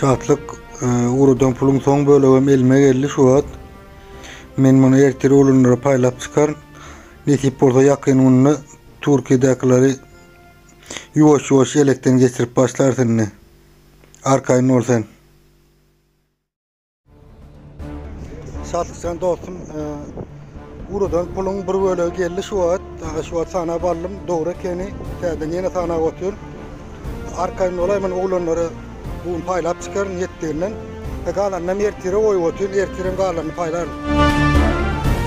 Şatlyk e, urudan pulun son bölegim elime geldi şu wagt. Men bunu ertir olanlara paýlap çykar. Nesip bolsa ýakyn günde Türkiýedäkileri ýuwaş ýuwaş elekden geçirip başlarsyn. Arkaýyn bol sen. Şatlykjan dostum, Urudan puluň bir bölegi geldi şu wagt. Şu wagt sanap aldym. Dogry ekeni. Täzeden ýene sanap otur. Arkaýyn bolaý, men oglanlara bu gün paýlap çykaryn ýetdiginden. E, galanynam ertire goýup otyryn. Ertirem galanyny paýlaryn.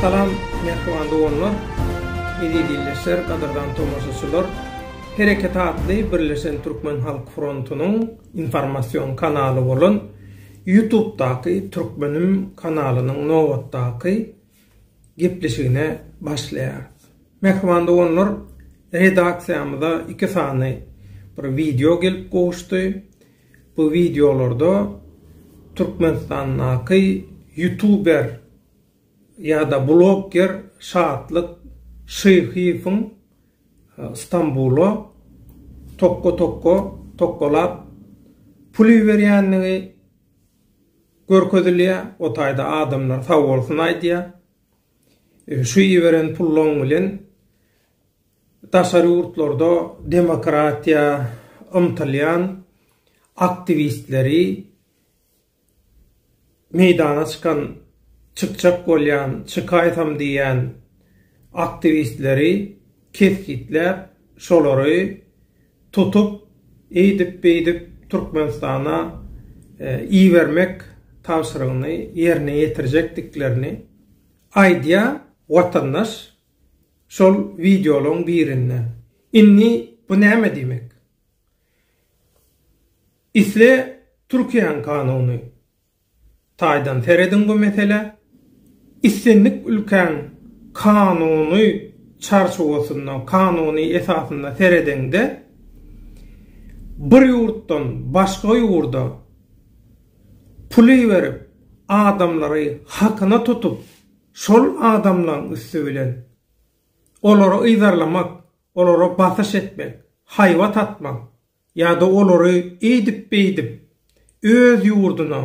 Salam, mähriban doganlar, eziz ildeşler, gadyrdan tomaşaçylar! Hereket atly Birleşen Türkmen Halk Frontunyň informasion kanaly bolan Ýutubdaky Türkmenim kanalynyň nobatdaky gepleşigine başlaýarys. Mähriban doganlar, redaksiýamyza iki sany bir wideo gelip gowuşdy. Bu wideolarda Türkmenistandaky ýutuber ýa-da blogger Şatlyk Şyhyýewiň Stambula tokga-tokga, tokgalap pul iberýändigi görkezilýär. O taýda adamlar sag bolsun aýdýar. Şu iberen pullaň bilen daşary ýurtlarda demokratiýa ymtylýan aktiwistleri meýdana çykan çykjak bolýan çykaýsam diýýän aktiwistleri kesgitläp şolary tutup eýdip beýdip Türkmenistana ibermek tabşyrygyny ýerine ýetirjekdiklerini aýdýar watandaş şol wideolaryň birinde indi bu näme diýmek? Isle Türkiýäň kanuny taýdan serediň bu meselä, islendik ülkäň kanuny çarçuwasynda, kanuny esasynda seredeňde, bir ýurtdan başga ýurda pul iberip, adamlary hakyna tutup, şol adamlaň üsti bilen olary yzarlamak, olara basyş etmek, haýbat atmak, Ýa-da olary eýdip-beýdip öz ýurduna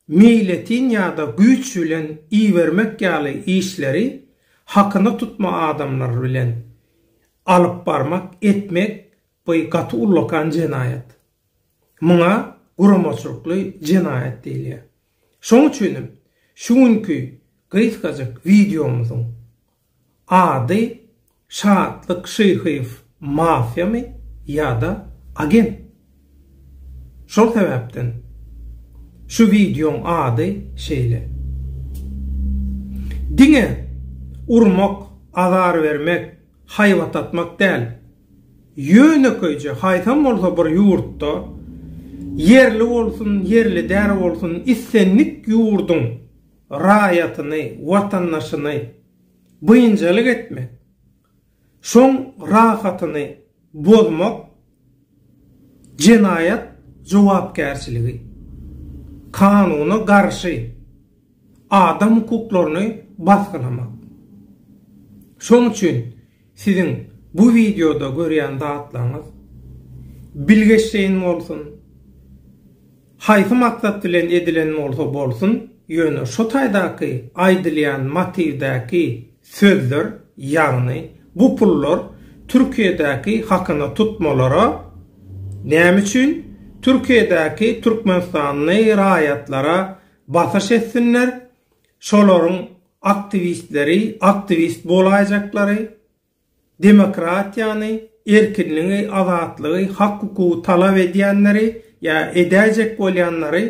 meýletin ýa-da güýç bilen ibermek ýaly işleri hakyna tutma adamlar bilen alyp barmak, etmek by gaty ullakan jenaýat. Muňa guramaçylykly jenaýat diýilýär. Şoň üçinem şu günki gysgajyk wideomyzyň Ady Şatlyk Şyhyýew mafiýamy ýa-da agent? Şol sebäpden şu wideoň ady şeýle. Diňe urmak, azar bermek, haýbat atmak däl, ýönekeýje haýsam bolsa bir ýurtda, ýerli bolsun, ýerli däl bolsun, islendik ýurduň, raýatyny, watandaşyny biynjalyk etmek, şoň rahatyny bozmak jenaýat jogapkärçiligi, kanuna garşy adam hukuklaryny basgylamak. Şoň üçin Siziň bu wideoda görýän zatlaryňyz bilgeşleýin bolsun, haýsy maksat bilen edilen bolsa bolsun, ýöne şu taýdaky aýdylýan motiwdäki sözler, ýagny bu pullar Türkiýedäki hakyna tutmalara, näme üçin Türkiýedäki türkmenistanly raýatlara basyş etsinler, Şolaryň aktiwistleri, aktiwist bolaýjaklary, demokratiýany, erkinligi, azatlygy, hak-hukugy talap edýänleri ýa edäýjek bolýanlary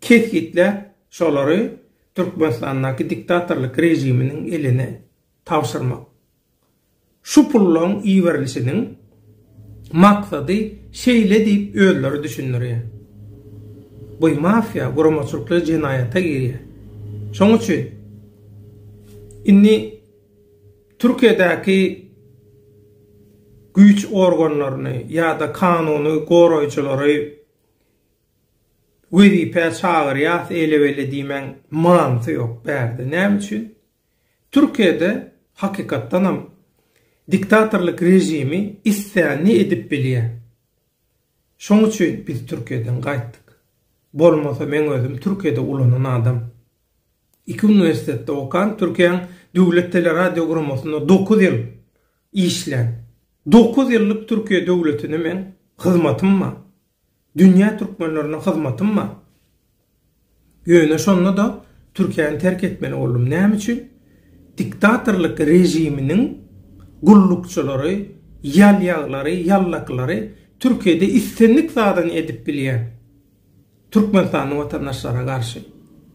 kesgitläp, şolary Türkmenistandaky diktatorlyk režiminiň eline tabşyrmak. Şu pullaryň iberilişiniň maksady şeýle diýip özleri düşündirýär. Bu mafiýa guramaçylykly jenaýata girýär. Şonuň üçin indi Türkiýedäki güýç organlaryny ýa-da kanuny goraýjylary wezipä çagyrýas ele-bele diýmäň manysy ýok bärde. Näme üçin? Türkiýede hakykatdanam diktatorlyk režimi islänini edip bilýär. Şoň üçin biz Türkiýeden gaýtdyk. Bolmasa meň özüm Türkiýede ulanan adam. Iki uniwersitetde okan, Türkiýäň döwlet teleradioguramosynda dokuz ýyl işlän. Dokuz ýyllyk Türkiýe döwletine meň hyzmatym bar. Dünýä türkmenlerine hyzmatym bar. Ýöne şonda-da Türkiýäni terk etmeli boldum. Näme üçin? Diktatorlyk režiminiň gullukçylary, ýalýaglary, ýallakylary Türkiýede islendik zadyny edip bilýär türkmenistanly watandaşlara garşy.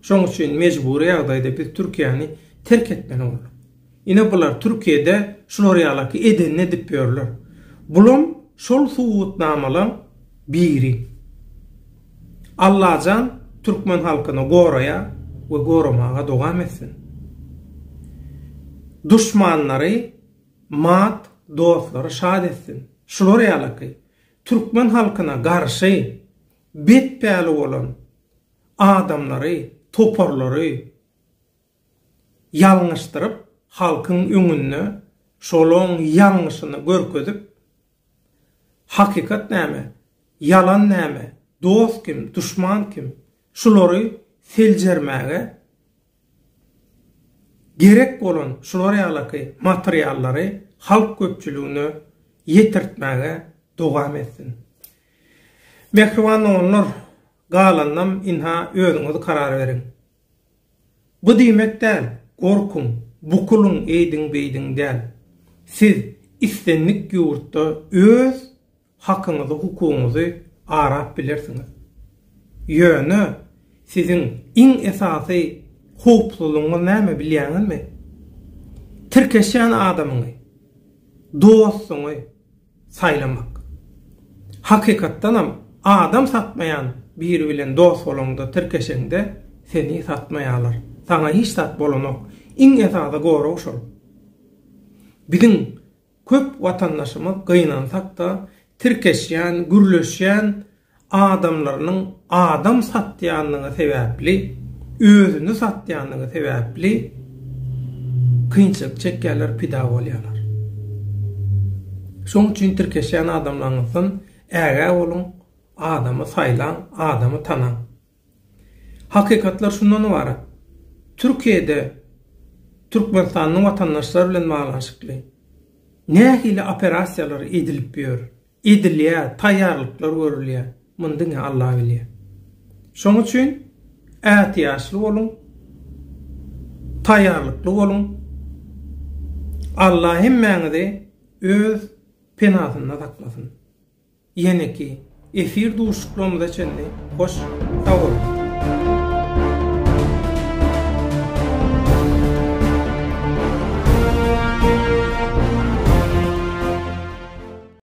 Şoň üçin mejbury ýagdaýda biz Türkiýäni terk etmeli bolduk. Ine bular Türkiýede şular ýalaky edenini edip ýörler. Bulam şol subutnamalaň biri. Allajan Türkmen halkyny goraýar we goramaga dowam etsin. Duşmanlary mat dostlary şat etsin. Şular ýalaky Türkmen halkyna garşy bet päli bolan adamlary toparlary. ýalňyşdyryp halkyň öňünde şolaň ýalňyşyny görkezip hakykat näme, ýalan näme, dost kim, duşman kim şulary seljermäge gerek bolan şular ýalaky materiallary halk köpçüligine ýetirtmäge dowam etsin. Mähriban doganlar! Galanynam ynha özüňiz karar beriň. Bu diýmek däl, gorkuň, bukulyň eýdiň-beýdiň däl. Siz islendik ýurtda öz hakyňyzy-hukugyňyzy arap bilersiňiz. Ýöne siziň iň esasy howpsuzlygyňyz näme bilýäňizmi? Tirkeşýän adamyňy, dostuňy, saýlamak. Hakykatdanam, adam satmaýan biri bilen dost bolaňda, tirkeşeňde, seni satmaýarlar. Saňa hiç zat bolanok. Iň esasy gorag şol. Biziň köp watandaşymyz gynansak-da, tirkeşýän, gürleşýän, adamlarynyň adam satýanlygy sebäpli, özüni satýanlygy sebäpli kynçylyk çekýärler, pida bolýarlar. Şoň üçin tirkeşýän adamlaryňyzdan ägä boluň, adamy saýlaň, adamy tanaň. Hakykatlar şundan ybarat. Türkiýede türkmenistanly watandaşlar bilen baglanyşykly nähili operasiýalar edilip ýör, edilýär, taýýarlyklar görülýär, muny diňe Alla bilýär. Şonuň üçin ätiýaçly boluň, taýýarlykly boluň. Alla hemmäňizi öz penasynda saklasyn. Ýeneki efir duşuşyklarymyza çenli hoş sag boluň.